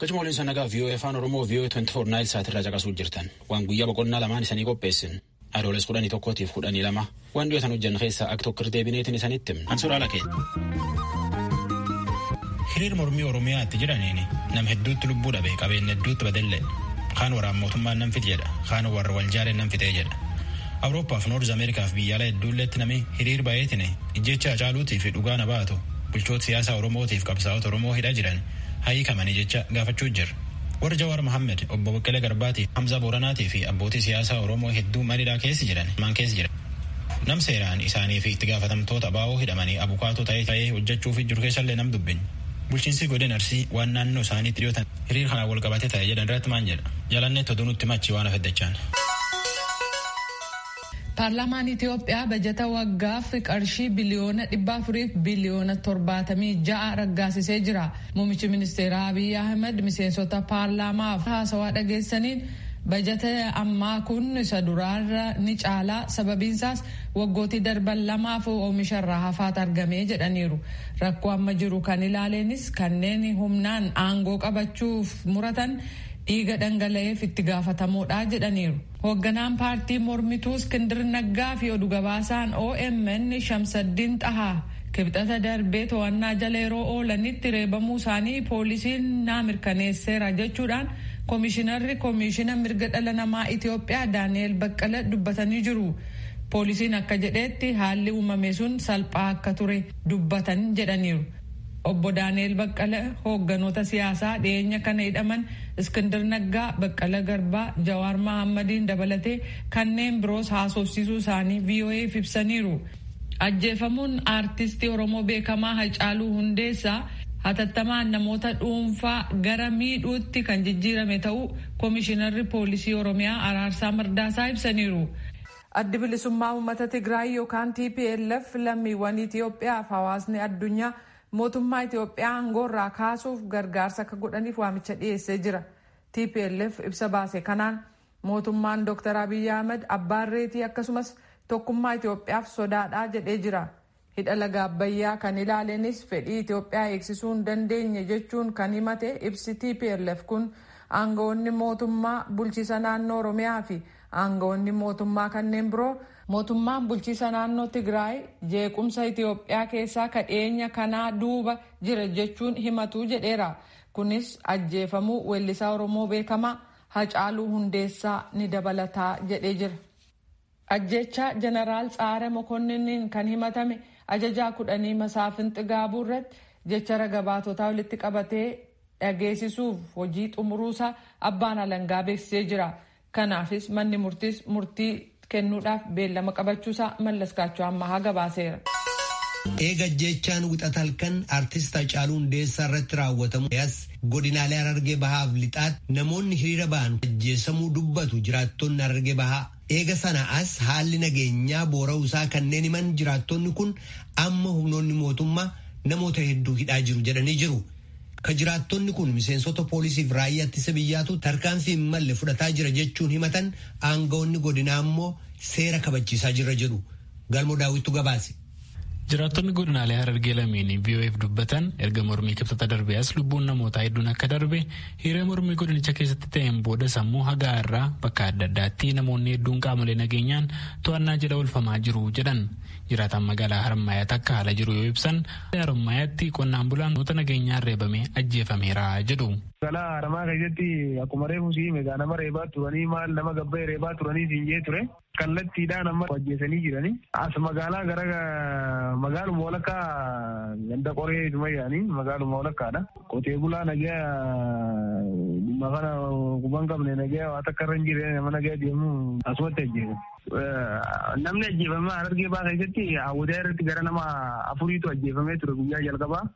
Gachuma waliin sana nagaa VOA Afaan Oromoo VOA 24 Naayil Saat irraa caqasuu jirtan. Waan guyyaa boqonnaa lamaan isanii qopheessin. Adooles kudhanii tokkootiif kudhanii lama. Waan dhiyootan hojjanna keessaa akka tokko deebineetiin isanitti himna. Ansuraa lakee. Hiriir mormii Oromiyaatti jiraniin nam hedduutti lubbuu dhabe qabeenya hedduutti badelle. Kaan waraan mootummaan nan fite jedha. Kaan warra wal jaaleen nan fite jedha. Awuroopaaf Noorz Ameerikaaf biyyaalaa hedduulleetti namni hiriir baay'eetiin ijjecha Hacaaluutii fi dhugaa na baatu bulchoota siyaasaa Oromootiif qabsaa'ota Oromoo hidhaa jiran haa hiikamanii jecha gaafachuu jirra. Warri Jawaar Mohammed, Obbo Baqqalee Garbaatii, Hamzaa Booranaatii fi abbootii siyaasaa Oromoo hedduu mana hidhaa keessa jiran himaan keessa jira. Nam seeraan isaanii fi itti gaafatamtoota abo hidhamanii abukaatoo ta'ee ta'ee hojjechuufii jiru keessallee nam dubbin. Bulchiinsii godina Arsii waan naannoo isaaniitti dhiyoo tan hiriir kanaan wal qabatee ta'e jedhan irratti maan jedha? Jalanneetti oduu nutti hima achii waan hafe dachaan. Paarlaamaan Itiyoophiyaa bajata waggaaf qarshii biliyoona 400 fi biliyoona 76 raggaasisee jira. Muummichi ministeeraa Abiy Ahimad miseensota paarlaamaaf haasawaa dhageessaniin bajata ammaa kun isa duraarra ni caala sababiinsaas waggootii darban lamaaf oomisha irraa hafaat argame jedhaniiru. Rakkoo amma jiru kan ilaaleenis kanneen humnaan aangoo qabachuuf muratan dhiiga dhangala'eef itti gaafatamoodha jedhaniiru. Hoogganaan paartii mormituu Iskindir Naggaa fi odu gabaasaan omn Shamsaddiin Xahaa Kibxata darbee to'annaa jala yeroo oolanitti reebamuu isaanii poolisiin naa mirkaneesseera jechuudhaan Komishinarri Komiishina Mirga Dhala Namaa Itoophiyaa Daani'eel Baqqala dubbatanii jiru. Poolisiin akka jedheetti haalli uumame sun salphaa akka ture dubbatan jedhaniiru. Obbo Daani'eel Baqqala hoogganoota siyaasaa dhiyeenya kana hidhaman Iskindir Naggaa, Baqqala Garbaa, Jawaar Mahaammadiin dabalatee kanneen biroos haasofsiisuu isaanii VOA'f ibsaniiru. Ajjeefamuun aartisti Oromoo beekamaa Hacaaluu Hundeessaa hatattamaan namoota dhuunfaa gara miidhuutti kan jijjiirame ta'uu Komishinarri Poolisii Oromiyaa Araarsaa Mardaasaa ibsaniiru. Addi Bilisummaa Uummata Tigraay yookaan tplf lammiiwwan Itiyoophiyaa fi hawaasni addunyaa mootummaa Itiyoophiyaa aangoorraa kaasuuf gargaarsa akka godhaniif waamicha dhiyeessee jira. Tplf ibsa baase kanaan mootummaan Dr. Abiy Ahimad abbaa irreetii akkasumas tokkummaa Itiyoophiyaaf sodaadha jedhee jira. Hidha Laga Abbayyaa kan ilaalenis fedhii Itoophiyaa eegsisuu hin dandeenye jechuun kan himate ibsi tplf kun, aanga'oonni mootummaa bulchiisa naannoo Oromiyaa fi aanga'oonni mootummaa kanneen biroo, mootummaan bulchiisa naannoo Tigraay jeequmsa Itoophiyaa keessaa ka dhiyeenya kanaa duuba jira jechuun himatu jedheera. Kunis ajjeefamuu weellisaa Oromoo beekamaa Hacaaluu Hundeessaa ni dabalata jedhee jira. Ajjeechaa Janaraal Tsahare Mokonninniin kan himatame ajajaa kudhanii Masaafin Xigaabuu irratti jecha raga-baatotaa walitti qabatee dhageesisuuf hojii xumuruusaa abbaan alangaa beeksisee jira. Kanaafis manni murtiis murtii kennuudhaaf beellama qabachuusaa Mallaskaachoo Ammahaa gabaaseera. Eega ajjeechaan wixata halkan artist Hacaaluu Hundeessaa irratti raawwatamu as godinaalee Harargee Bahaaf Lixaatti namoonni hiriira ba'an ajjeesamuu dubbatu jiraattonni Harargee Bahaa. Eega sana as haalli nageenyaa boora'uu isaa kanneen himan jiraattonni kun amma humnoonni mootummaa namoota hedduu hidhaa jiru jedhanii jiru. Ka jiraattonni kun miseensota poolisiif raayyaa ittisa biyyaatu tarkaanfii hin malle fudhataa jira jechuun himatan aangawoonni godinaa ammoo seera kabachiisaa jirra jedhu. Galmo daawwittu gabaase. Jiraattonni godinaalee Harargee lameenii VOA'f dubbatan erga mormii kibxata darbee as lubbuun namootaa hedduun akka darbe hiriira mormii godinicha keessatti ta'een boodas ammoo hagaa irraa bakka adda addaatti namoonni hedduun qaamolee nageenyaan to'annaa jala oolfamaa jiru jedhan. Jiraataan magaalaa Harmaayaatti akka haala jiru yoo ibsan Harmaayaatti qonnaan bulaan namoota nageenyaan reebamee ajjeefameera jedhu. Magaalaa Haramaa keessatti akkuma reefu siime egaa nama reebaa turanii maal nama gabba'e reebaa turanii siin jee ture. kallattiidhaan amma ajjeesanii jiranii as magaalaa gara magaaluma walakkaa ganda qoree sumayyaanii magaaluma walakkaadha qotee bulaa nagaa dhimma kana quban qabne nagaa waa takka irra hin jirre nama nagaa deemu asumatti ajjeesan. Namni ajjeefame harargee baa keessatti hawwataa irratti gara nama afuriitu ajjeefamee ture guyyaa jalqabaa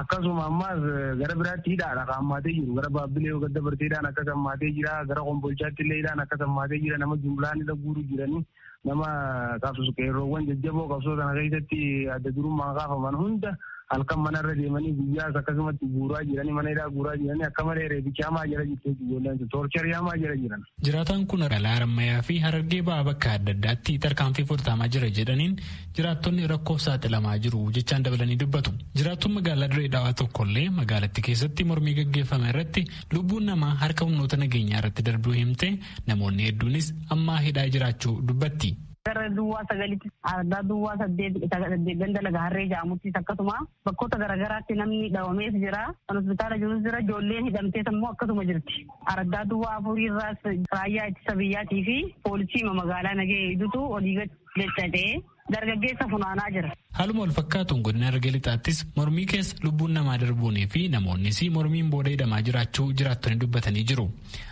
Akkasuma ammaas gara biraatti hidhaadha kan hammaatee jiru. Gara Baabbilee yoo gad dabartee hidhaan akkas hammaatee jira. Gara Kombolchaatti illee hidhaan akkas hammaatee jira. Nama jumlaan hidha guuru jiranii nama qabsu qeerroowwan jajjaboo qabsoo sana keessatti adda durummaan kaafaman hunda halkan manarra deemanii guyyaas akkasumatti guuraa jiranii mana hidhaa guuraa jiranii akka malee reebicha hamaa jala jirti ijoolleen sun toorcharii hamaa jala jiran. Jiraataan kun magaalaa Harammayaa fi Harargee ba'aa bakka adda addaatti tarkaanfii fudhatamaa jira jedhaniin jiraattonni rakkoof saaxilamaa jiru jechaan dabalanii dubbatu. Jiraattuun magaalaa Dirree Dhawaa tokkollee magaalattii keessatti mormii gaggeeffame irratti lubbuun namaa harka humnoota nageenyaa irratti darbuu himtee namoonni hedduunis ammaa hidhaa jiraachuu dubbatti. Gara duwwaa sagalitti ardaa duwwaa saddeet ganda laga harree jedhamuttis akkasuma bakkoota garaagaraatti namni dhawamees jira. Kan hospitaala jirus jira. Ijoolleen hidhamtees immoo akkasuma jirti. Ardaa duwwaa afuriirraas raayyaa ittisa biyyaatii fi poolisii magaalaa nagee hedduutu olii gadi jechatee dargaggeessa funaanaa jira. Haaluma walfakkaatuun godina Harargee Lixaattis mormii keessa lubbuun namaa darbuunii fi namoonnis mormiin booda hidhamaa jiraachuu jiraattonni dubbatanii jiru.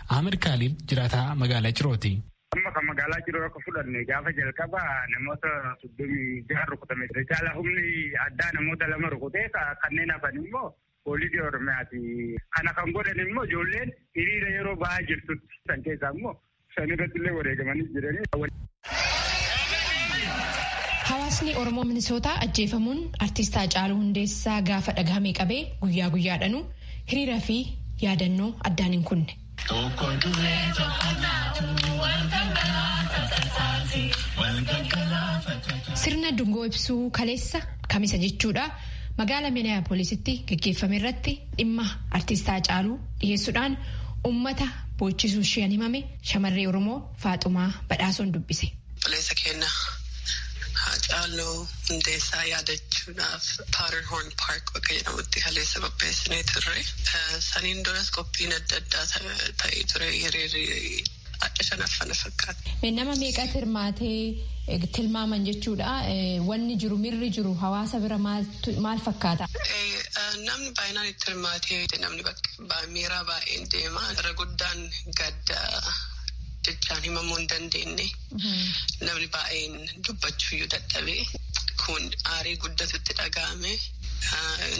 Ahmed Kaaliil jiraataa magaalaa Cirooti. Amma kan magaalaa Ciroo akka fudhanne gaafa jalqaba namoota soddomii jaha rukutame. Caala humni addaa namoota lama rukutee kanneen hafan immoo Poolisii Oromiyaati. Kana kan godhan immoo ijoolleen hiriira yeroo ba'aa jirtutti san keessaa immoo san irratti illee wareegamanii jiranii. Hawaasni Oromoo Minisootaa ajjeefamuun artiist Haacaaluu Hundeessaa gaafa dhagahame qabee guyyaa guyyaadhanuu hiriira fi yaadannoo addaan hin kunne. Tokko du'ee tokko nyaatu wal gaggalaafa tasaase wal gaggalaafa tasaase. Sirna dungoo ibsuu kaleessa kamisa jechuudha magaala Minneapolisitti gaggeeffame irratti dhimma artiist Haacaaluu dhiheessuudhaan ummata boochisuu isheen himame shamarree Oromoo Faaxumaa Badhaasoon dubbise. Obboleessa keenya Haacaaluu Hundeessaa yaadachuudhaaf Powderhorn Park bakka jedhamutti kaleessa qopheessinee turre. Saniin duras qophiin adda addaa ta'ee ture. Hiriirri adda shanaffaa na fakkaata. Nama meeqatu hirmaatee tilmaaman jechuudha. Wanni jiru mirri jiru hawaasa bira maal fakkaata? Namni baay'inaan itti hirmaatee namni bakka. Miiraa baay'een deema. Irra guddaan gadda jechaan himamuu hin dandeenye. Namni baay'een dubbachuuyyuu dadhabe. Kun aarii guddatu itti dhaga'ame.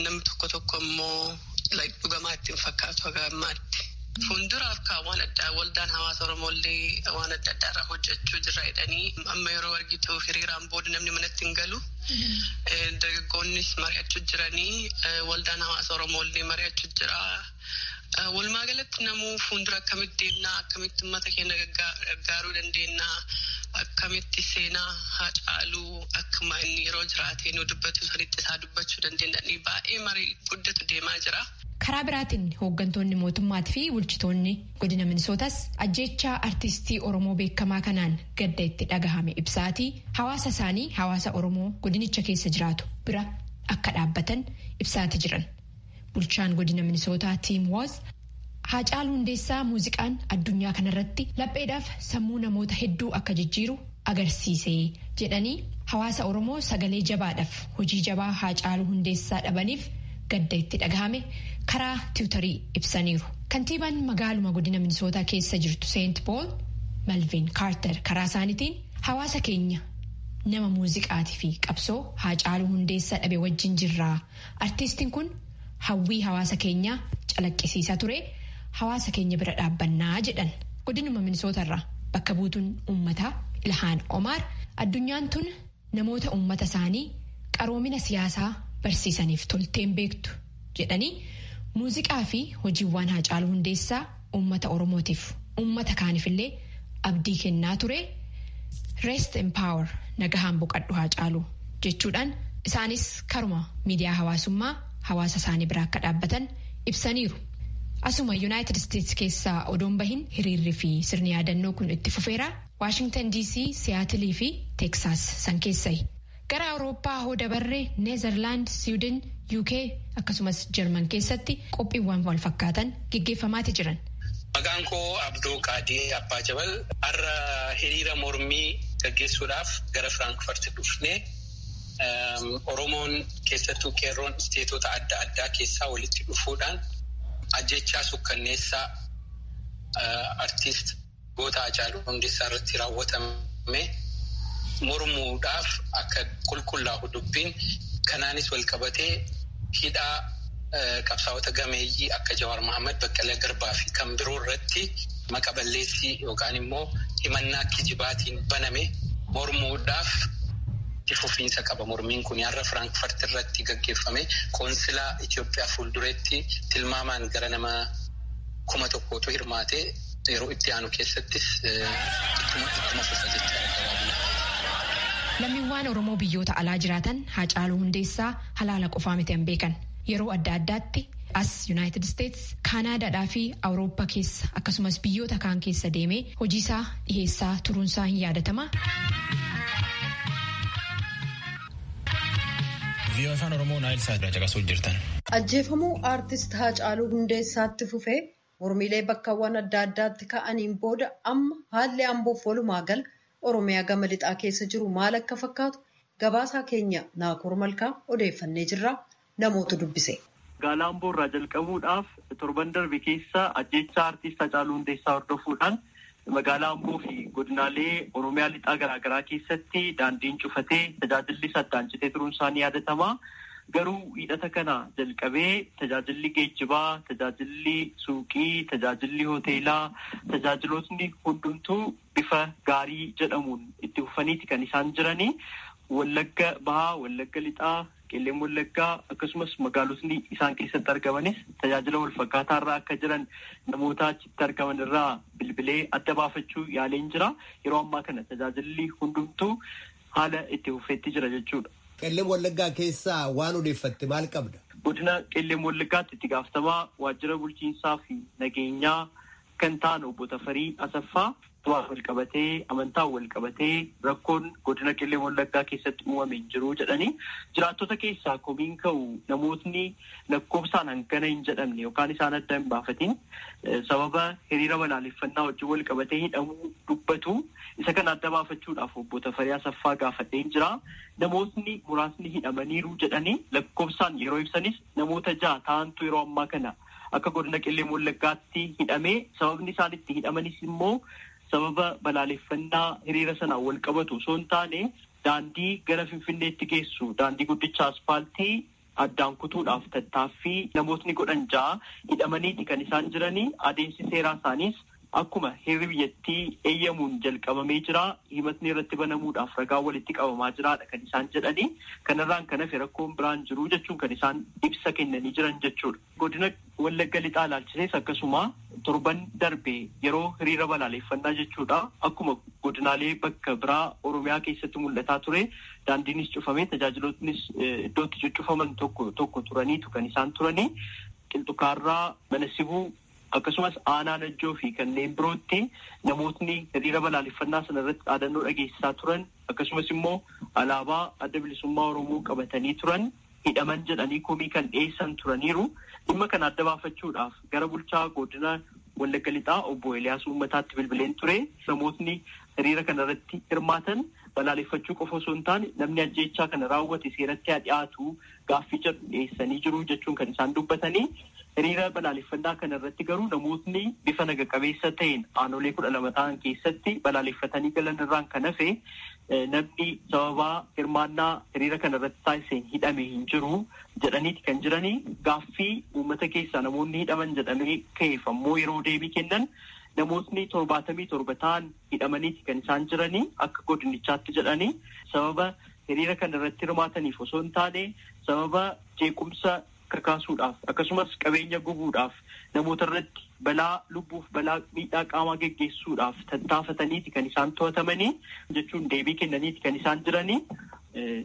Namni tokko tokko immoo dhugamaa itti hin fakkaatu haga ammaatti. Fuulduraaf kaa waan addaa waldaan hawaasa Oromoollee waan adda addaa irraa hojjechuu jirra jedhanii amma yeroo argitu hiriiraan booda namni manatti hin galu. dargaggoonnis mari'achuu jiranii waldaan hawaasa Oromoo illee mari'achuu jira. Walumaa galatti namuu fuuldura akkamitti deemna akkamitti uummata keenya gargaaruu dandeenya akkamitti seenaa haa caaluu akkuma inni yeroo jiraatee nu dubbatu sanitti isaa dubbachuu dandeenya baay'ee marii guddatu deemaa jira. Karaa biraatiin hooggantoonni mootummaati fi bulchitoonni Godina Minisootas ajjeechaa artiistii Oromoo beekamaa kanaan gadda itti dhagahame ibsaatii hawaasa isaanii hawaasa Oromoo godinicha keessa jiraatu bira akka dhaabbatan ibsaati jiran. Bulchaan godina Minisootaa Tiim Wooz Haacaaluu Hundeessaa muuziqaan addunyaa kanarratti lapheedhaaf sammuu namoota hedduu akka jijjiiru agarsiise jedhanii hawaasa Oromoo sagalee jabaadhaf hojii jabaa Haacaaluu Hundeessaa dhabaniif gadda itti dhagahame karaa tiwutarii ibsaniiru. Kantiibaan magaaluma godina Minisootaa keessa jirtu Seent Pool Malviin Kaarter karaa isaanitiin hawaasa keenya nama muuziqaati fi qabsoo Haacaaluu Hundeessaa dhabe wajjin jirraa Artiistiin kun hawwii hawaasa keenyaa calaqqisiisaa ture, hawaasa keenya bira dhaabbanna jedhan. Godinuma Minisootarraa bakka buutuun uummataa Ilhaan Omaar addunyaan tun namoota uummata isaanii qaroomina siyaasaa barsiisaniif tolteen beektu jedhanii muuziqaa fi hojiiwwaan Haacaaluu Hundeessaa uummata Oromootiif uummata kaanifillee abdii kennaa ture Rest in Power nagahaan boqadhu Haacaaluu jechuudhaan isaanis karuma miidiyaa hawaasummaa hawaasa isaanii biraa akka dhaabbatan ibsaniiru. Asuma Yuunaayitid Isteets keessaa odoon bahin hiriirri fi sirni yaadannoo kun itti fufeera. Waashingtan DC, Siyaatilii fi Teeksaas san keessayi. Gara Awurooppaa hoo dabarre Neezarlaand, Siwidin, UK akkasumas Jarman keessatti qophiiwwan walfakkaatan geggeeffamaati jiran. Maqaan koo Abdoo Qaadir Abbaa Jabal. Har'a hiriira mormii gaggeessuudhaaf gara Firaankfart dhufne. Oromoon keessattuu qeerroon isteetota adda addaa keessaa walitti dhufuudhaan ajjeechaa sukkanneessaa artiist. goota Haacaaluu Hundeessaa irratti raawwatame mormuudhaaf akka qulqullaa'u dubbiin kanaanis walqabatee hidhaa qabsaa'ota gameeyyii akka Jawaar Mahaammad, Baqqalaa Garbaa fi kan biroo irratti maqa balleessii yookaan immoo himannaa kijibaatiin baname mormuudhaaf itti fufiinsa qaba. Mormiin kun har'a Firaankfart irratti gaggeeffame qoonsilaa Itoophiyaa fuuldureetti tilmaamaan gara nama kuma tokkootu hirmaate. Yeroo itti aanu keessattis ittuma ittuma fufa jechaadha gabaabumatti. Lammiwwaan Oromoo biyyoota alaa jiraatan Haacaaluu Hundeessaa halaala qofaa miti an beekan. Yeroo adda addaatti as Yunaayitid Isteets, Kaanaadaadhaa fi Awurooppa keessa akkasumas biyyoota kaan keessa deemee hojiisaa dhiheessaa turuunsaa hin yaadatama. Viiyoo Afaan Oromoo Naayil Saat irraa caqasuu jirtan. Ajjeefamuu Aartist Haacaaluu Hundeessaatti fufee Mormiilee bakkawwan adda addaatti ka'aniin booda amma haalli Amboof walumaa gala Oromiyaa gama lixaa keessa jiru maal akka fakkaatu gabaasaa keenya Naakoor Malkaa odeeffannee jirra namootu dubbise. Gaala Amboo irraa jalqabuudhaaf torban darbe keessa ajjeechaa Artiist Hacaaluu Hundeessaa hordofuudhaan Magaalaa Amboo fi godinaalee Oromiyaa Lixaa garaagaraa keessatti daandiin cufatee tajaajillis addaan citee turuun isaa ni yaadatama. Garuu Wiixata kana jalqabee tajaajilli geejjibaa, tajaajilli suuqii, tajaajilli hoteelaa, tajaajilootni hundumtuu bifa gaarii jedhamuun itti fufaniiti kan isaan jiranii. Wallagga Bahaa, Wallagga Lixaa, Qellem Wallaggaa akkasumas magaalotni isaan keessatti argamanis tajaajila walfakkaataa irra akka jiran namoota achitti argaman irraa bilbilee adda baafachuu yaaleen jira. Yeroo ammaa kana tajaajilli hundumtuu haala itti fufeetti jira jechuudha. Qellem Wallaggaa keessaa waan odeeffatte maal qabda? Godina Qellem Wallaggaatti itti gaafatamaa waajjira bulchiinsaa fi nageenyaa kan ta'an Obbo Tafarii Asaffaa du'aan walqabatee amantaan walqabatee rakkoon godina Qellem Wallaggaa keessatti uumame hin jiru jedhanii jiraattota keessaa komiin ka'u namootni lakkoofsaan hangana hin jedhamne yookaan isaan adda hin baafatiin sababa hiriira balaaleffannaa wajjin walqabatee hidhamuu dubbatu isa kana adda baafachuudhaaf Obbo Tafarii Asaffaa gaafadheen jira namootni muraasni hidhamaniiru jedhanii lakkoofsaan yeroo ibsanis namoota ja'a ta'antu yeroo ammaa kana akka godina Qellem Wallaggaatti hidhamee sababni isaan itti hidhamanis immoo sababa balaaleffannaa hiriira sanaan wal qabatu osoo hin taane daandii gara Finfinneetti geessu daandii guddicha aspaaltii addaan kutuudhaaf tattaaffii namootni godhan ja'a hidhamaniiti kan isaan jiranii adeemsi seeraa isaaniis Akkuma heerri biyyattii eeyyamuun jalqabamee jira, himatni irratti banamuudhaaf ragaan walitti qabamaa jiraadha kan isaan jedhani. Kanarraan kan hafe rakkoon biraa hin jiru jechuun kan isaan ibsa kennanii jiran jechuudha. Godina Wallagga Lixaa ilaalchisees akkasuma torban darbe yeroo hiriira balaaleeffannaa jechuudha akkuma godinaalee bakka biraa Oromiyaa keessatti mul'ataa ture daandiinis cufamee tajaajilootnis iddoo itti cuccufaman tokko tokko turaniitu kan isaan turanii Qilxukaarraa, Manasibuu, Akkasumas aanaa Najjoo fi kanneen birootti namootni hiriira balaaleffannaa sana irratti dhaadannoo dhageessisaa turan akkasumas immoo alaabaa Adda Bilisummaa Oromoo qabatanii turan hidhaman jedhanii komii kan dhiyeessan turaniiru. Dhimma kana adda baafachuudhaaf gara bulchaa godina Wallagga Lixaa obbo Eliyaas Uummataatti bilbileen ture. Namootni hiriira kana irratti hirmaatan balaaleffachuu qofa osoo hin taane namni ajjeechaa kana raawwate seeratti haa dhiyaatu gaaffii jedhu dhiyeessanii jiru jechuun kan isaan dubbatanii hiriira balaaleffannaa kana irratti garuu namootni bifa naga qabeessa ta'een aanolee kudha lama ta'an keessatti balaaleffatanii galan irraan kan hafe namni sababaa hirmaannaa hiriira kana irratti taasiseen hidhame hin jiru jedhaniiti kan jiranii gaaffii uummata keessaa namoonni hidhaman jedhamee ka'eef ammoo yeroo deebii kennan namootni torbaatamii torba ta'an hidhamaniiti kan isaan jiranii akka godinichaatti jedhanii sababa hiriira kana irratti hirmaataniif osoo hin taane sababa jeequmsa kakaasuudhaaf akkasumas qabeenya gubuudhaaf namoota irratti balaa lubbuuf balaa miidhaa qaamaa geggeessuudhaaf tattaafataniiti kan isaan to'atamanii jechuun deebii kennaniiti kan isaan jiranii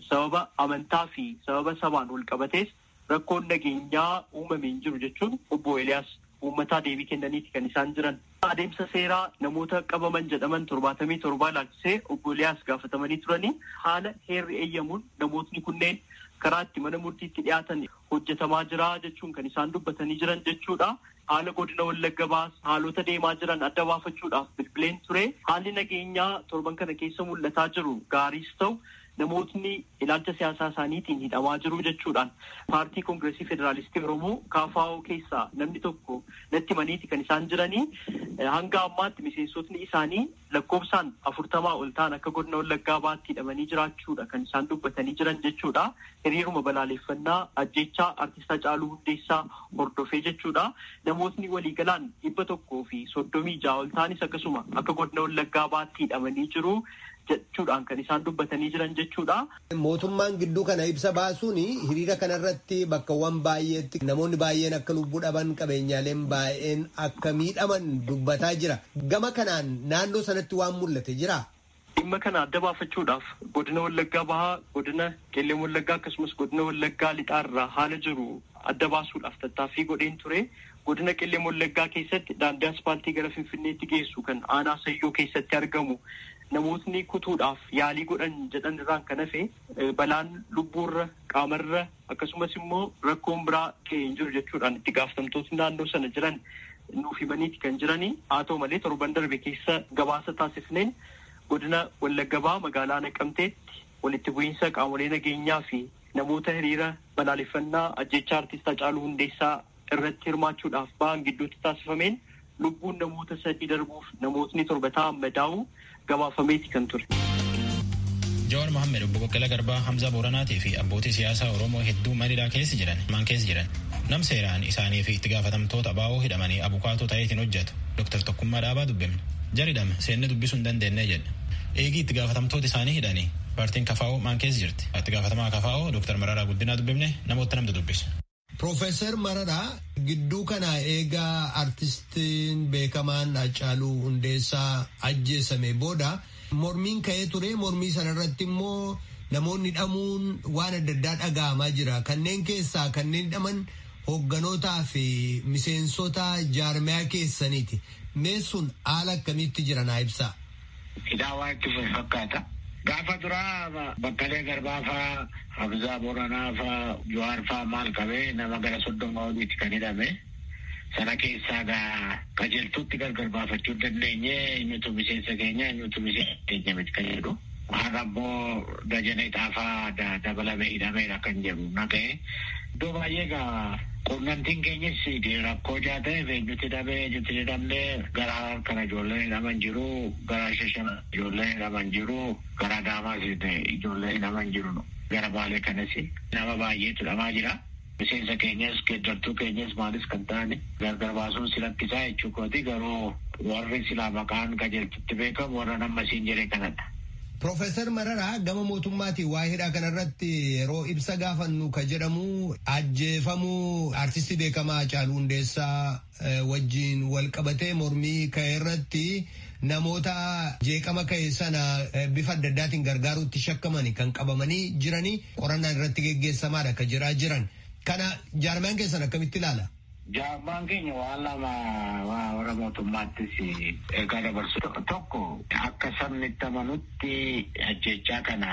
sababa amantaa fi sababa sabaan wal qabatees rakkoon nageenyaa uumame hin jiru jechuun obbo Eliyaas uummataa deebii kennaniiti kan isaan jiran. Adeemsa seeraa namoota qabaman jedhaman torbaatamii torbaa ilaalchisee obbo Eliyaas gaafatamanii turanii haala heerri eeyyamuun namootni kunneen karaa itti mana murtiitti dhiyaatan hojjetamaa jira jechuun kan isaan dubbatanii jiran jechuudha. Haala godina Wallagga Bahaas haalota deemaa jiran adda baafachuudhaaf bilbileen ture. Haalli nageenyaa torban kana keessa mul'ataa jiru gaariis ta'u namootni ilaalcha siyaasaa isaaniitiin hidhamaa jiru jechuudhaan paartii koongireesii federaalistii Oromoo KFO keessaa namni tokko natti himaniiti kan isaan jiranii hanga ammaatti miseensotni isaanii lakkoofsaan afurtamaa ol ta'an akka godina Wallaggaa baatti hidhamanii jiraachuudha kan isaan dubbatanii jiran jechuudha. Hiriiruma balaaleeffannaa ajjechaa artist Hacaaluu Hundeessaa hordofee jechuudha. Namootni waliigalaan dhibba tokkoo fi soddomii ja'a ol ta'anis akkasuma akka godina Wallaggaa baatti hidhamanii jiru. jechuudhaan kan isaan dubbatanii jiran jechuudha. Mootummaan gidduu kana ibsa baasuun hiriira kana irratti bakkawwan baay'eetti namoonni baay'een akka lubbuu dhaban qabeenyaaleen baay'een akka miidhaman dubbataa jira. Gama kanaan naannoo sanatti waan mul'ate jiraa? Dhimma kana adda baafachuudhaaf godina Wallaggaa Bahaa, godina Qellem Wallaggaa akkasumas godina Wallaggaa Lixaa irraa haala jiru adda baasuudhaaf tattaaffii godheen ture. Godina Qellem Wallaggaa keessatti daandii aspaaltii gara Finfinneetti geessu kan aanaa Sayyoo keessatti argamu namootni kutuudhaaf yaalii godhan jedhan irraan kan hafe balaan lubbuurra, qaamarra akkasumas immoo rakkoon biraa ga'e hin jiru jechuudhaan itti gaafatamtootni naannoo sana jiran nuuf himaniiti kan jirani. Haa ta'u malee torban darbe keessa gabaasa taasifneen godina Wallagga Bahaa magaalaa Naqamteetti walitti bu'iinsa qaamolee nageenyaa fi namoota hiriira balaaleffannaa ajjeechaa Artiist Hacaaluu Hundeessaa irratti hirmaachuudhaaf bahan gidduutti taasifameen lubbuun namoota sadii darbuuf namootni torba ta'an madaa'uu gabaafameeti kan ture. Jawaar Mohammed obbo Baqqalaa Garbaa Hamzaa Booranaatii fi abbootii siyaasaa Oromoo hedduu Maniilaa keessa jiran maan keessa jiran nam seeraan isaanii fi itti gaafatamtoota abaa'oo hidhamanii abukaatoo ta'eetiin hojjetu Dr. Tokkummaa Dhaabaa dubbifne jaridham seenne dubbisuu hin dandeenye jedhe eegii itti gaafatamtoota isaanii hidhanii paartiin kafaa'oo maan keessa jirti itti gaafatamaa kafaa'oo Dr. Mararaa Guddinaa dubbifne namoota namtu dubbise. Piroofeesar Mararaa gidduu kana eegaa artistiin beekamaan Haacaaluu Hundeessaa ajjeesame booda mormiin ka'ee ture mormii sanarratti immoo namoonni dhamuun waan adda addaa dhaga'amaa jira kanneen keessaa kanneen dhaman hogganootaa fi miseensota jaarmiyaa keessaniiti mee sun haala akkamiitti jira naa ibsaa. Qidaawaa itti fufe fakkaata. Gaafa duraa Baqqalee Garbaa faa, Hamzaa Booranaa faa, Jawaar faa maal qabee nama gara soddoma oliiti kan hidhame. Sana keessaa egaa qajeeltuutti gargar baafachuu hin dandeenye. Eenyutu miseensa keenya eenyutu miseensa keenya miti kan jedhu. Har'a immoo Dajanee Xaafaa dabalamee hidhameera kan jedhu dhaga'e. Iddoo baay'ee egaa quunnamtiin keenyis rakkoo ijaa ta'eef eenyutti hidhamee eenyutti hin hidhamne gara Harar kana ijoolleen hidhaman jiru gara Shashamee ijoolleen hidhaman jiru gara Adaamaas ijoolleen hidhaman jiru gara Baalee kanas nama baay'eetu hidhamaa jira. Miseensa keenyas geeddartuu keenyas maalis kan ta'an gargar baasuun si rakkisaa jechuu kooti garuu warri silaa maqaan qajeeltutti beekamu warran amma siin jedhe kanadha. Profeesar Mararaa gama mootummaatiin waa'ee hidhaa kanarratti yeroo ibsa gaafannu ka jedhamu ajjeefamuu artistii beekamaa Hacaaluu Hundeessaa wajjin wal qabatee mormii ka'e irratti namoota jeeqama ka'e sana bifa adda addaatiin gargaaruutti shakkamani kan qabamanii jiranii qorannaan irratti geggeessamaadha ka jedhaa jiran. Kana jaarmaan keessan akkamitti ilaala? Jaabbaan keenya waan lama warra mootummaattis ergaa dabarsu. Tokko akka sabni itti amanutti ajjeechaa kana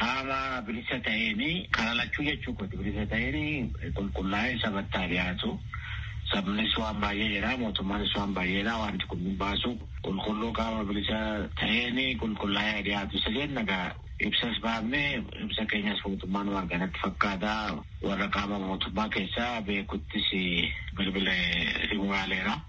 qaama bilisa ta'een karaa lachuu jechuu kooti bilisa ta'een qulqullaa'ee sabatti haa dhiyaatu. Sabnis waan baay'ee jedha mootummaanis waan baay'ee jedha wanti kun hin baasu qulqulluu qaama bilisa ta'een qulqullaa'ee haa dhiyaatu isa jenna. Ibsas baafne, ibsa keenyas mootummaanuma arge natti fakkaata. Warra qaama mootummaa keessaa beekuttis bilbilee himuu yaaleera.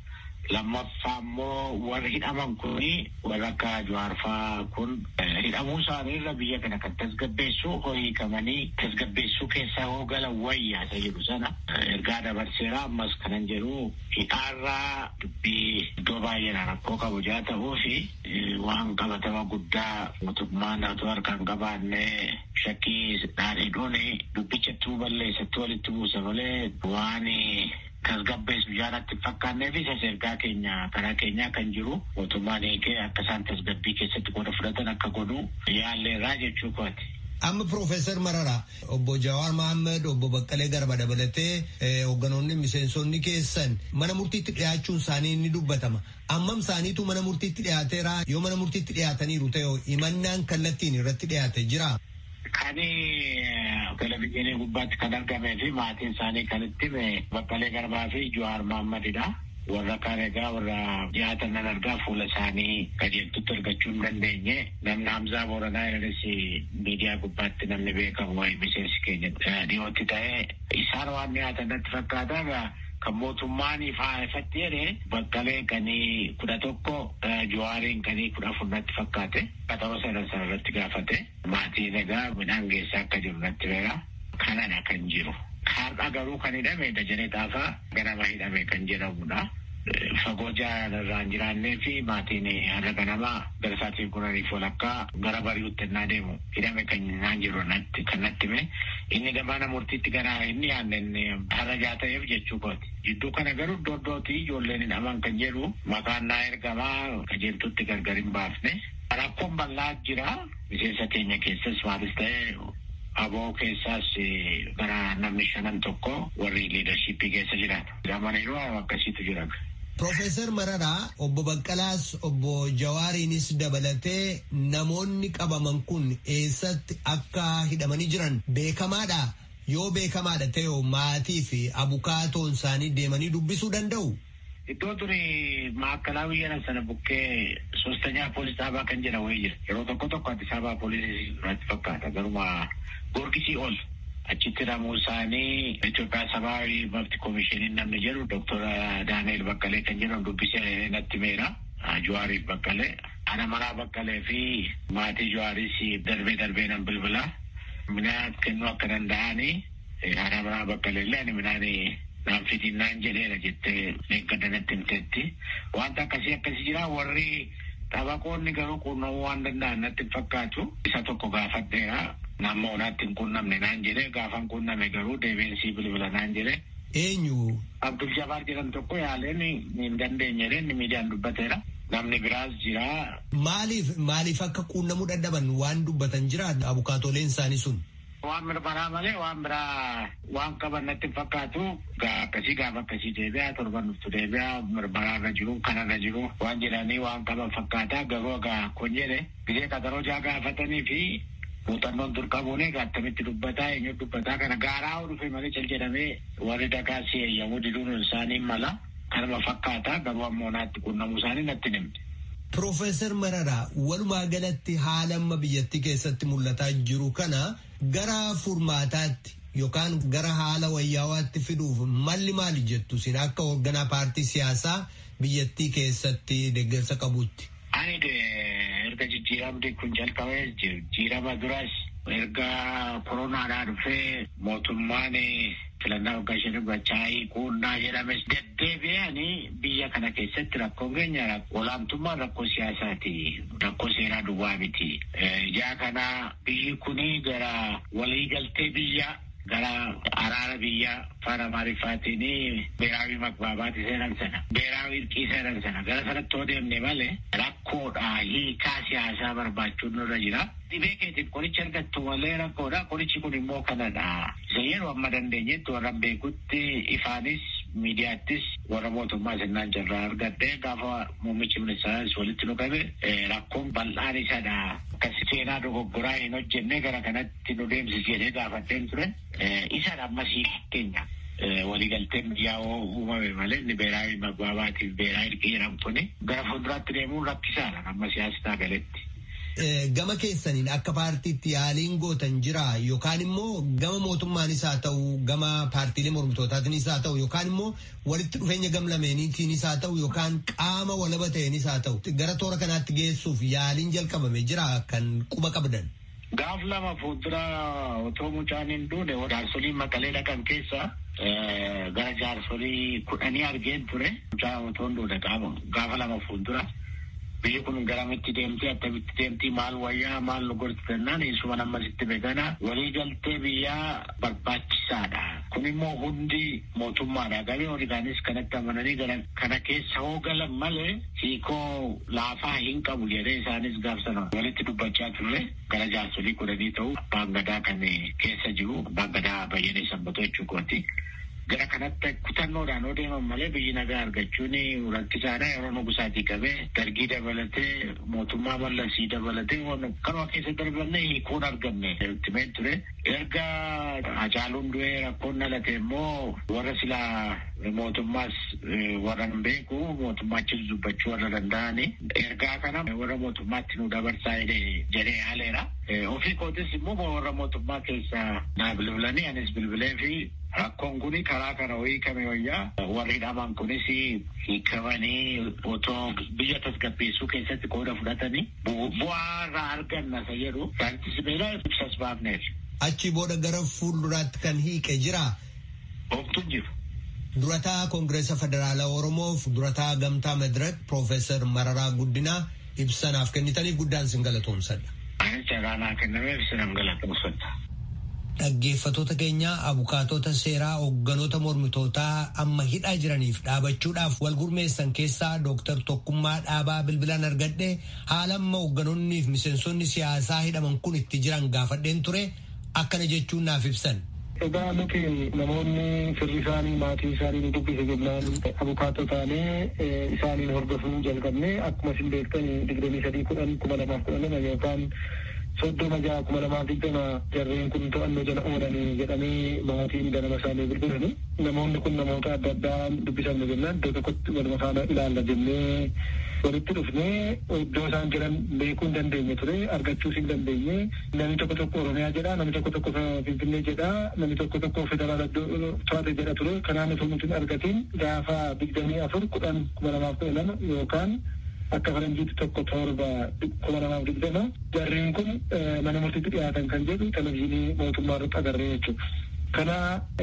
Lammaffaa immoo warri hidhaman kun warra akka Jawaar fa'aa kun hidhamuu isaanii irra biyya kana kan tasgabbeessu hoo hiikamanii tasgabbeessuu keessaa hoo galan wayya isa jedhu sana ergaa dabarseera. Ammas kanan jedhu hidhaarraa dubbii iddoo baay'eedhaa rakkoo qabu jaa ta'uufi Waan qabatama guddaa mootummaan utuu harkaa hin qabaanne shakkiidhaan hidhuun dubbicha ittuu balleessa, ittuu walitti buusa malee waan tasgabbeessu ijaa natti hin fakkaannee fi isas ergaa keenya karaa keenyaa kan jiru mootummaan hiikee akka isaan tasgabbii keessatti qooda fudhatan akka godhu yaalleerraa jechuu kooti. Amma Piroofeesar Mararaa obbo Jawaar Mahammad obbo Baqqalee Garba dabalatee hoogganoonni miseensonni keessan mana murtiitti dhiyaachuun isaanii ni dubbatama. Ammam isaaniitu mana murtiitti dhiyaateera? Yoo mana murtiitti dhiyaataniiru ta'e hoo himannaan kallattiin irratti dhiyaate jiraa? Kan televizyiinii gubbaatti kan argamee fi maatiin isaanii kan itti hime Baqqalee Garbaa fi Jawaar Mahaammad dha. Warra kaan egaa warra dhiyaatan nan argaa fuula isaanii qajeeltutti argachuu hin dandeenye. Namni Hamzaa Booranaa irranis miidiyaa gubbaatti namni beekamu waa'ee miseensi keenya dhiyootti ta'e isaan waan dhiyaatan natti fakkaata. Kan mootummaan ifaa ifatti jedhe Baqqaleen kan kudha tokko Jawaariin kan kudha afur natti fakkaate. Qaxaroo sadan sana irratti gaafate. Maatiin egaa midhaan geessaa akka jiru natti himeera. Kanadha kan jiru. Har'a garuu kan hidhame Dajanee Xaafaa ganama hidhame kan jedhamudha. Fagoo jaalaan irraa hin jiraanneefi maatiin har'a ganama gara sa'aatii kudhaniif walakkaa gara bari'utti ennaa deemu. hidhame kan naan jiru natti kan natti hime inni damaana murtiitti gara hin dhiyaanne inni harajaa ta'eef jechuu kooti. Jidduu kana garuu iddoo iddootti ijoolleen hidhaman kan jedhu maqaan naa ergamaa qajeeltuutti gargar hin baafne. Rakkoon bal'aa jira miseensa keenya keessas maalis ta'e aboo keessaas gara namni shanan tokko warri liidarshiippii keessa jiran. Yaa mana yeroo haala akkasiitu jira. Piroofeesar Mararaa, Obbo Baqqalaas, Obbo Jawaariinis dabalatee namoonni qabaman kun eessatti akka hidhamanii jiran beekamaadhaa? Yoo beekamaadha ta'e maatii fi abukaatoon isaanii deemanii dubbisuu danda'u? Iddoo duri maakkalaa biyya sana bukkee soostanyaa poolis dhaabaa kan jedhan wayii jira. Yeroo tokko tokko Addis Ababaa poolisiis irratti fakkaata garuma Goorgisii ol. Achitti hidhamuu isaanii Itoophiyaa Sabaawi Mabti Komishiiniin namni jedhu Doktor Daani'eel Baqqalee kan jedhamu dubbisee natti himeera. Jawaariif Baqqalee. Ana manaa Baqqalee fi maatii Jawaariis darbee darbee nan bilbila. Midhaan kennuu akka danda'ani haadha manaa Baqqalee illee ani midhaan naan fidiin naan jedheera jettee dheengadda natti himteetti. Wanta akkasii akkasii jira warri Xabaqoonni garuu quunnamuu waan danda'an natti hin fakkaatu. Isa tokko gaafadheera. Hamma onaatti hin quunnamne naan jedhe. Gaafan quunname garuu deebi'een sii bilbila naan jedhe. Eenyu? Abdul Jabaar jedhamu tokko yaaleen hin dandeenye jedhee inni miidiyaan dubbateera. Namni biraas jira. Maaliif maaliif akka quunnamuu dadhaban waan dubbatan jiraa abukaatooleen isaanii sun? Waan mirmaraa malee waan biraa waan qaban natti hin fakkaatu. Egaa akkasii gaafa akkasii deebi'a torban dhuftu deebi'a mirmaraa irra jiru kana irra jiru waan jedhanii waan qaban fakkaata garuu egaa kun jedhe gizee qaxaroo jaa gaafatanii fi muuxannoon dur qabuun egaa attamitti dubbataa eenyu dubbataa kana gaaraa hoo dhufe malee cal jedhamee warri dagaas eeyyamuu diduun isaanii mala. Kanuma fakkaata garuu ammoo naatti quunnamuu isaanii natti hin himne. Pirofeesar Mararaa, walumaa galatti haala amma biyyattii keessatti mul'ataa jiru kana gara furmaataatti yookaan gara haala wayyaawaatti fiduuf malli maali jettu isin akka hoogganaa paartii siyaasaa biyyattii keessatti deeggarsa qabuutti? Ani erga jijjiiramni kun jalqabee jijjiirama duras erga koronaadhaa dhufee mootummaan filannaa waggaa shanii gochaa hiikuunnaa jedhames deddeebi'ee ani biyya kana keessatti rakkoon keenya olaantummaan rakkoo siyaasaati. Rakkoo seeraa duwwaa miti. Ijaa kana biyyi kun gara waliigaltee biyyaa Gara araara biyyaa afaan Amaariffaatiin beeraawi magbaabaati seenan sana, beeraawi irqii seenan sana gara sanatti yoo deemne malee rakkoodha hiikaa siyaasaa barbaachuun nurra jira. Dhibee keetiif qoricha argattu malee rakkoodha. Qorichi kun immoo kanadha. Isa yeroo amma dandeenyetti warran beekutti ifaanis miidiyaattis warra mootummaa sinnaan carraa argadhe gaafa muummichi ministeeraas walitti nu qabe rakkoon bal'aan isadha. Akka seenaa dogoggoraa hin hojjenne gara kanatti itti nu deemsisi jedhee gaafadheen ture. Isan ammasii keenya waliigalteen biyyaa uumame malee inni beeraayi magbaabaatiif beeraayi irqii jedhamtuni gara fuulduraatti deemuun rakkisaadha amma siyaasi taagaletti. Gama keessaniin akka paartiitti yaaliin gootan jira yookaan immoo gama mootummaanis haa ta'u gama paartiilee mormitootaatiinis haa ta'u yookaan immoo walitti dhufeenya gam lameeniitiinis haa ta'u yookaan qaama walaba ta'eenis haa ta'u gara toora kanaatti geessuuf yaaliin jalqabame jira kan quba qabdan. Gaaf lama fuuldura otoo mucaan hin duune jaarsoliin Maqalee dhaqan keessaa gara jaarsolii kudhanii argeen ture. Mucaa otoo hin duune gaafa lama fuuldura biyyi kun garamitti deemti attamitti deemti maal wayyaa maal nu gorsi jennaan eessuman amma sitti begana walii galtee biyyaa barbaachisaadha. Kun immoo hundi mootummaadhaa galee warri kaanis kanatti amananii galan kana keessa hoo galan malee hiikoo laafaa hin qabu jedhee isaanis gaaf sana walitti dubbachaa turre gara jaarsolii kudhanii ta'u abbaan gadaa kan keessa jiru abbaan gadaa bayyanee sanbatoo jechuu kooti. Gara kanatti kutannoodhaan yoo deeman malee biyyi nagaa argachuun rakkisaadha yeroo nugusaatii qabee dargii dabalatee mootummaa mallasii dabalatee kanuma keessa darbannee hiikoon argamne ultimate ture. Erga Hacaaluun du'ee rakkoon dhalate immoo warra silaa mootummaas warra hin beeku mootummaa achis dubbachuu warra danda'ani ergaa kana warra mootummaatti nu dabarsaa jedhee jedhee haaleera. Ofii kootis immoo warra mootummaa keessa naa bilbilanii anis bilbilee fi rakkoon kun karaa kana wayii kame wayyaa warri hidhaman kunis hiikamanii otoo biyya tasgabbeessuu keessatti qooda fudhatanii bu'aa irraa arganna isa jedhu jaarti sibiilaa ibsas baafneef. Achii booda gara fuulduraatti kan hiiqe jiraa? Homtu hin jiru. Durataa Kongireesa Federaala Oromoof durataa Gamtaa Madirak Piroofeesar Mararaa Guddinaa ibsa naaf kennitaniif guddaan isin galatoomsadha. Anis carraa naa kennameef isinan galatoomsadha. Dhaggeeffatoota keenya abukaatoota seeraa hogganoota mormitootaa amma hidhaa jiraniif dhaabachuudhaaf wal gurmeessan keessaa Dooktar Tokkummaa Dhaabaa bilbilaan argadhe haala amma hogganoonniif miseensonni siyaasaa hidhaman kun itti jiran gaafadheen ture akkana jechuun naaf ibsan. Egaa nuti namoonni firri isaanii maatiin isaanii nu dubbise jennaan abukaatoo taanee isaaniin hordofuu jalqabne akkuma isin beektan digdamii sadii kudhan kuma lamaaf kudha lama yookaan 30 6 2020 jarreen kun to'annoo jala oolan jedhanii maatiin ganama isaanii bilbilani. Namoonni kun namoota adda addaa dubbisamne jennaan iddoo tokkotti waluma faana ilaalla jennee walitti dhufnee iddoo isaan jiran beekuu hin dandeenye ture argachuus hin dandeenye. Namni tokko tokko Oromiyaa jedha, namni tokko tokko Finfinnee jedha, namni tokko tokko federaala to'ate jedha ture. Kanaan utuu nuti hin argatiin gaafa 24 10 2012 yookaan akka faranjiitti 1 7 kuma lamaa fi digdama jarreen kun mana murtiitti dhiyaatan kan jedhu televizyiinii mootummaa irratti agarree jechuudha. Kana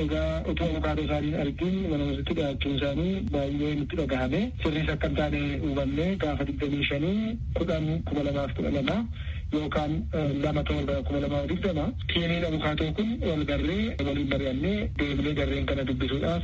egaa utuu abukaatoo isaanii hin argin mana murtiitti dhiyaachuun isaanii baay'ee nutti dhagahame. Sirriis akka hin taane hubanne gaafa digdamii shanii kudhan kuma lamaa fi kudha lama yookaan lama torba kuma lamaa fi digdama tiimiin abukaatoo kun wal garree waliin mari'annee deebinee jarreen kana dubbisuudhaaf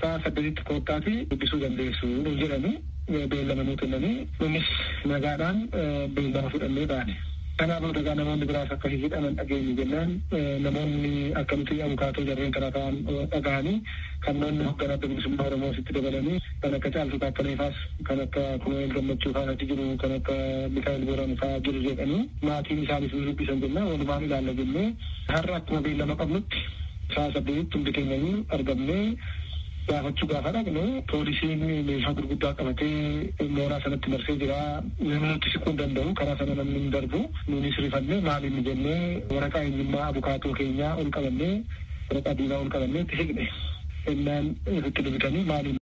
sa'a saddeetitti koottaatii dubbisuu dandeessu nuun jedhanii beellama nuu kennanii nunis nagaadhaan beellama fudhannee baane. Kanaa booda egaa namoonni biraas akka hihidhaman dhageenye jennaan namoonni akka nuti abukaatoo jarreen kanaa ta'an dhagahanii kannoonni hogganaa Adda Bilisummaa Oromoos itti dabalanii kan akka Caaltuu Taakkalee faas kan akka Kunu'eel Gammachuu faas achi jiru kan akka Mikaa'el Booran faa jiru jedhanii maatiin isaanis ni dubbisan jennaan walumaan ilaalla jennee har'a akkuma beellama qabnutti Sa'a saddeetitti hundi keenyayyuu argamnee gaafachuu gaafa dhaqnu poolisiin meeshaa gurguddaa qabatee mooraa sanatti marsee jira. Namni nutti siquu hin danda'u. Karaa sana namni hin darbu. Nuunis rifannee maal inni jennee waraqaa eenyummaa abukaatoo keenyaa ol qabannee waraqaa diimaa ol qabannee itti siqne. Ennaan nutti dubitanii maal inni.